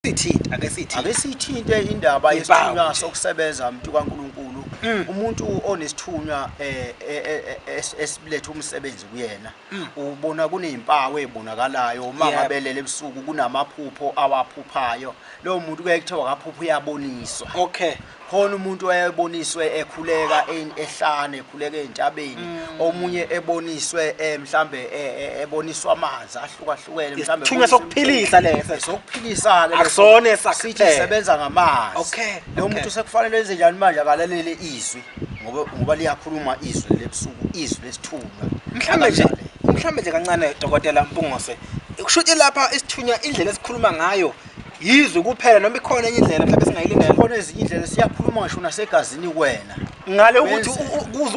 siyithinte ake siyithinte ake siyithinte indaba yesithunywa sokusebenza umuntu kaNkuluNkulu mm. umuntu onesithunywa eh, eh, eh, esiletha umsebenzi kuyena mm. ubona kunezimpawu ezibonakalayo uma ngabelele ebusuku kunamaphupho awaphuphayo lowo muntu kuye kuthiwa kaphupha uyaboniswa okay khona umuntu owayeboniswe ekhuleka eyn- ehlane ekhuleka ezintabeni Mm. omunye eboniswe eh, mhlambe eh, eh, eboniswa amanzi ahlukahlukene mhlambe Isithunywa eboniswa sokuphilisa umthetho. leso. sokuphilisa-ke leso. Akusona esakuphela. Sithi sisebenza ngamanzi Okay, lo okay. muntu sekufanele enze njani manje akalalele izwi ngoba ngoba liyakhuluma izwi lebusuku izwi lesithunywa mhlambe nje Akalale. mhlambe nje kancane dokotela mpungose kusho ukuthi lapha isithunywa indlela esikhuluma ngayo yizwe kuphela noma ikhona enye indlela mhlawumbe singayilindela khona ezinye indlela siyakhuluma ngisho nasegazini kuwena ngale ukuthi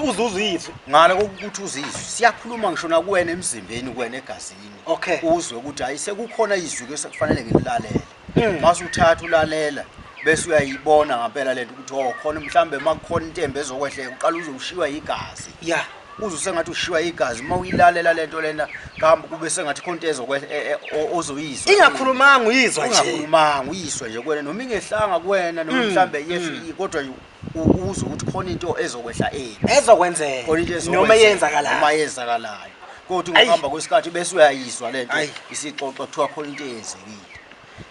uzuzizwe ngale kokuthi uzizwe siyakhuluma ngisho nakuwena emzimbeni kuwena egazini okay uzwe ukuthi hayi sekukhona izwi ke sekufanele ngililalele hmm. mase uthatha ulalela bese uyayibona ngempela lento ukuthi oh khona mhlambe makukhona intembe ezokwehleka uqala uzoshiywa yigazi yeah uzwe sengathi ushiywa igazi uma uyilalela lento lena kambe kube sengathi khonto ezokwenza e, e, ozoyizwa ingakhulumanga uyizwa nje ingakhulumanga uyizwa nje kuwena noma ingehlanga kuwena noma mm, mhlambe yesho mm. kodwa uzwe ukuthi khona into ezokwehla eni ezokwenzeka khona into noma yenzakalayo noma yenzakalayo kodwa ngokuhamba kwesikhathi bese uyayizwa lento isixoxo kuthiwa khona into eyenzekile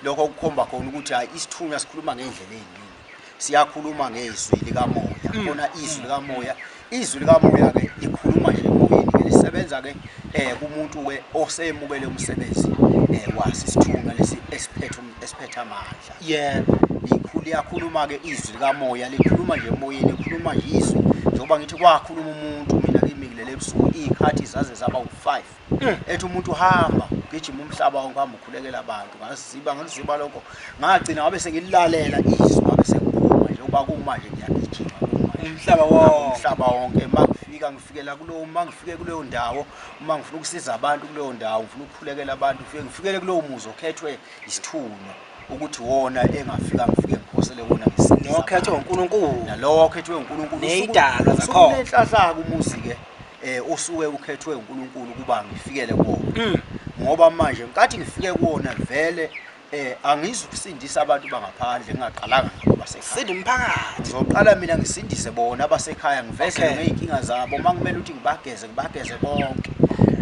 lokho kukhomba khona ukuthi hayi isithunywa sikhuluma ngendlela eyini siyakhuluma ngezwi likamoya mm. khona izwi likamoya izwi likamoya ke likhuluma nje emoyeni ke lisebenza ke eh kumuntu ke osemukele umsebenzi eh wasi sithunga lesi esiphethe esiphethe amandla yebo likhulu yakhuluma ke izwi likamoya likhuluma nje emoyeni likhuluma nje izwi njengoba ngithi kwakhuluma umuntu mina kimi kulele ebusuku izikhathi zaze zaba u5 eh. ethi umuntu hamba gijima umhlaba wonke hamba ukhulekela abantu ngaziba ngaliziba lokho ngagcina ngabe sengilalela izwi ngabe sengiphuma nje uba kumanje ngiyagijima umhlaba wonke umhlaba wonke mangifika ngifikela kulowo mangifike kuleyo ndawo uma ngifuna ukusiza abantu kuleyo ndawo ngifuna ukukhulekela abantu ngifike ngifikele kulowo muzi okhethwe isithunywa ukuthi wona engafika ngifike ngiphosele wona ngisinokhethe uNkulunkulu nalowo okhethwe uNkulunkulu nezidalwa zakhona inhlahlaka umuzi ke eh osuke ukhethwe uNkulunkulu ukuba ngifikele kuwona ngoba manje nkathi ngifike kuwona vele eh angizukusindisa abantu bangaphandle ngingaqalanga ngabo basekhaya sinda umphakathi ngizoqala mina ngisindise bona abasekhaya ngiveze okay. ngeyinkinga zabo uma kumele ukuthi ngibageze ngibageze bonke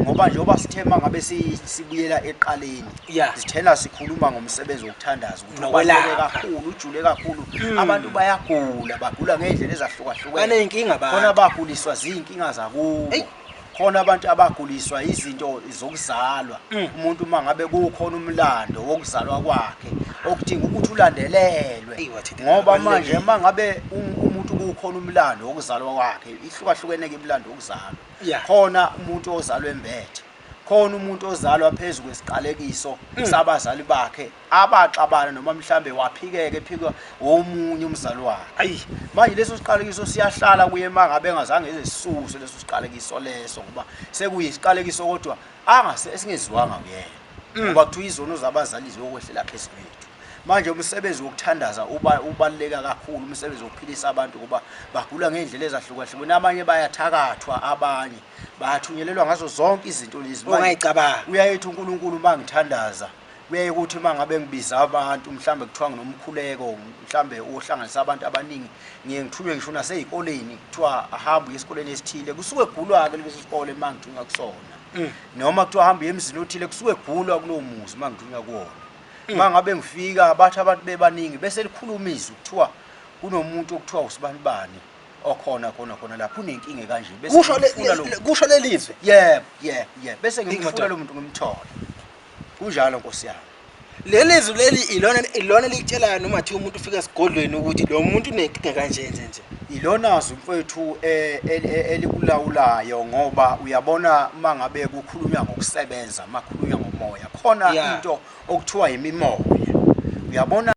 ngoba njengoba sithema ngabe sibuyela eqaleni yeah. sithena sikhuluma ngomsebenzi wokuthandaza nokwelapha kakhulu ujule kakhulu hmm. abantu bayagula bagula ngey'ndlela ezahlukahlukene baney'nkinga khona baguliswa ziy'nkinga zakubo khona abantu abaguliswa izinto zokuzalwa hmm. umuntu uma ngabe kukhona umlando wokuzalwa kwakhe okudinga ukuthi ulandelelwe ngoba manje uma ngabe umuntu kukhona umlando wokuzalwa kwakhe ihlukahlukene-ke imlando wokuzalwa khona umuntu ozalwe mbethe khona umuntu ozalwa phezu kwesiqalekiso hmm. sabazali bakhe abaxabana noma mhlambe waphikeka ephikwa omunye umzalwane ayi manje leso siqalekiso siyahlala kuye mangabe engazange ezesuse leso siqalekiso leso ngoba sekuyisiqalekiso kodwa angase esingeziwanga kuyena mm. ngoba kuthiwa izono zabazali ziyokwehlela phezu kwethu manje umsebenzi wokuthandaza ubaluleka kakhulu umsebenzi wokuphilisa abantu ngoba bagula ngey'ndlela ezahlukahlukene abanye bayathakathwa abanye bayathunyelelwa ngazo zonke izinto lezi uyayethi unkulunkulu uma ngithandaza Kuyaye kuthi uma ngabe ngibiza abantu mhlawumbe kuthiwa nginomkhuleko mhlawumbe ohlanganisa abantu abaningi ngiye ngithunywe ngisho nasezikoleni kuthiwa ahambe uye esikoleni esithile kusuke kugulwa-ke leso sikole uma ngithunywa kusona mm. noma kuthiwa ahambe uye emzini othile kusuke kugulwa kulowo muzi uma ngithunywa kuwona mm. uma ngabe ngifika bathi abantu bebaningi bese likhuluma izwi kuthiwa kunomuntu okuthiwa usibanibani okhona khona khona lapho unenkinga kanje bese kusho lelizwe yebo yebo yebo bese ngimfuna lo muntu ngimthole Kunjalo nkosi yami. Leli zwi leli ilona ilona likutshelayo noma thi umuntu ufika esigodlweni ukuthi lo muntu unenkinga kanje nje nje. Ilona zwi mfowethu eh, el- el- elikulawulayo ngoba uyabona uma ngabe kukhulunywa ngokusebenza, uma kukhulunywa ngomoya, khona Yeah. into okuthiwa yimimoya. Uyabona